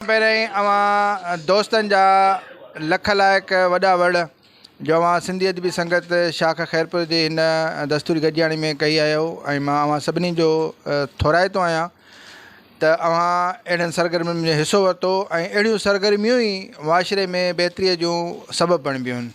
پهريائين اوهان دوستن جا لک لائق وڏا وڙ جو اوهان سنڌي ادبي سنگت شاخ خيرپور جي هن دستوري گڏجاڻي ۾ ڪهي آهيو ۽ مان اوهان سڀني جو ٿورائتو آهيان ته اوهان اهڙن سرگرمين ۾ حصو ورتو ۽ اهڙيون سرگرميون ئي معاشري ۾ بهتري جون سبب بڻبيون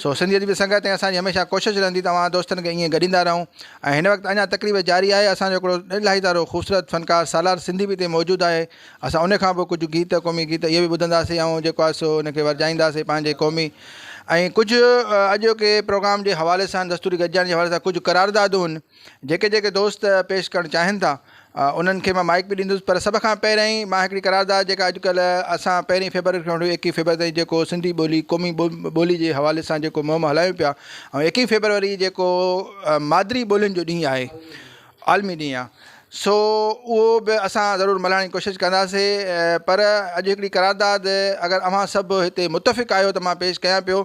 سو سنڌيت جي سنگت ۽ اسان جي هميشه ڪوشش رهندي ته اوهان دوستن کي ائين گڏيندا رهون ۽ هن وقت اڃا تقريب جاري آهي اسان جو هڪڙو الاهي تارو خوبصورت فنڪار سالار سنڌي به هتي موجود آهي اسان ان کان پوء ڪجهه گيت قومي گيت اهي به ٻڌنداسين ۽ جيڪو آهي سو ان کي ورجائينداسين پنهنجي قومي ۽ ڪجهه اڄوڪي پروگرام جي حوالي سان دستوري گڏجاڻي جي حوالي سان ڪجهه قراردادون جيڪي جيڪي دوست پيش ڪرڻ چاهين ٿا انهن کي مان مائيڪ به ڏيندس پر سڀ کان پهريائين مان هڪڙي قرارداد جيڪا اڄڪلهه اسان پهرين فيبروري کان وٺي ايڪيهه فيبروري تائين جيڪو سنڌي ٻولي قومي ٻولي جي حوالي سان جيڪو مهم هلايون پيا ۽ ايڪيهه فيبروري جيڪو مادري ٻولين جو ڏينهن آهي عالمي ڏينهن آهي سو اهو به اسان ضرور ملهائڻ جي ڪوشش ڪنداسين پر اڄ هڪڙي قرارداد اگر اوهان سڀ هتي متفق آهيو ته مان پيش ڪيان پيو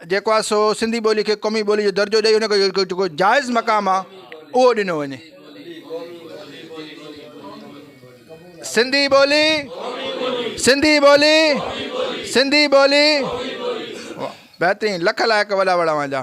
جيڪو آهي سو سنڌي ٻولي کي قومي ٻولي جو درجو ڏئي ان کي جيڪو جائز مقام آهي اهو ڏنو وڃي سنڌي ٻولي سنڌي ٻولي سنڌي ٻولي بهترين لک لائق وڏا وڏا وانجا